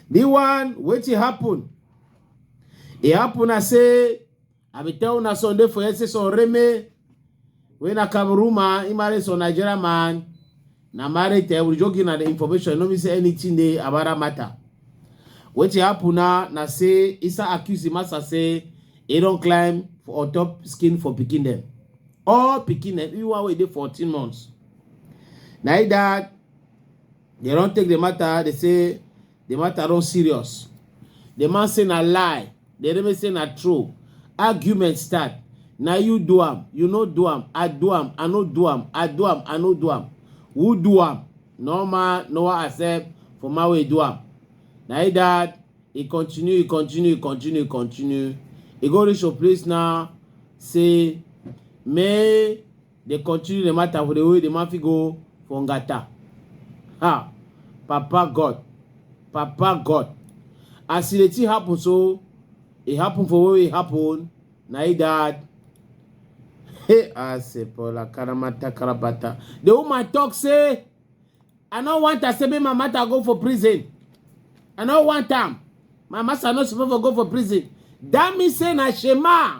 The one wetin happen? E happen I say I be tell una Sunday for yesterday so Reme when I come room man, he married some Nigerian man. Na marriage eh, we just give na the information, no mean say anything dey about that matter. Wetin happen na na say Isa accuse Imasa say he don climb for on top skin for pikin dem. All pikin dem, even one wey dey 14 months. Na e that they don take the matter, they say the matter don serious the man say na lie the enemy say na true argument start na you do am you no do am i do am i no do am i do am i no do am who do am no man no one accept for man wey do am na e that e continue e continue e continue e continue e go reach your place now say may They continue the matter for the way the man fit go for Ngata. Ha! Papa God. Papa God. As the thing happen so, it happen for where it happen. Na it that. Hey, I say, Paula, Karamata, Karabata. The woman talk say, I don't want to say me my matter go for prison. I don't want time. My master not supposed to go for prison. That means say na Shema.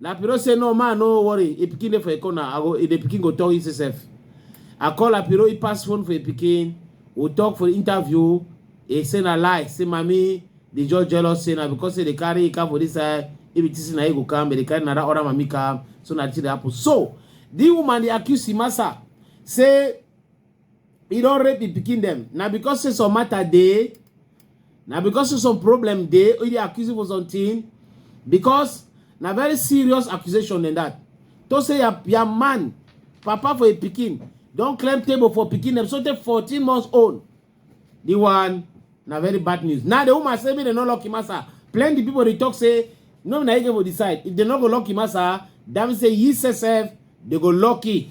Lapiro say no man no worry e pikin dey for a corner i go e dey pikin go talk e sef i call Lapiro e pass phone for e pikin we talk for interview e say na lie say mami dey just jealous say na because say dey carry e car for this side if e think say na e go come but dey carry na that other mami come so na the thing dey happen so the woman dey accuse Imasa say e don rape the pikin dem na because say some matter dey na because say some problem dey e dey accuse you for something because na very serious accusation than that to say your, your man papa for a pikin don claim table for pikin dem so take 14 months old the one na very bad news now the woman say make dem no lock him asa plenty people dey talk say no be na him get for the side if dem no go lock him asa that mean say he sef dey go lucky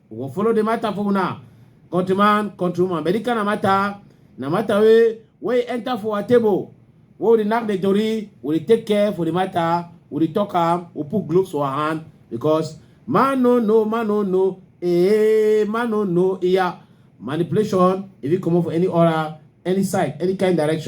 We go follow the matter for una. Countryman, countrywoman. But this kind of matter, na matter wey wey e enter for our table. Wey we dey knack the tori, we dey take care for the matter, we dey talk am, we put gloves for our hand because man no know, man no know, eh, man no know, yeah. Manipulation, if you comot for any order, any side, any kind direction.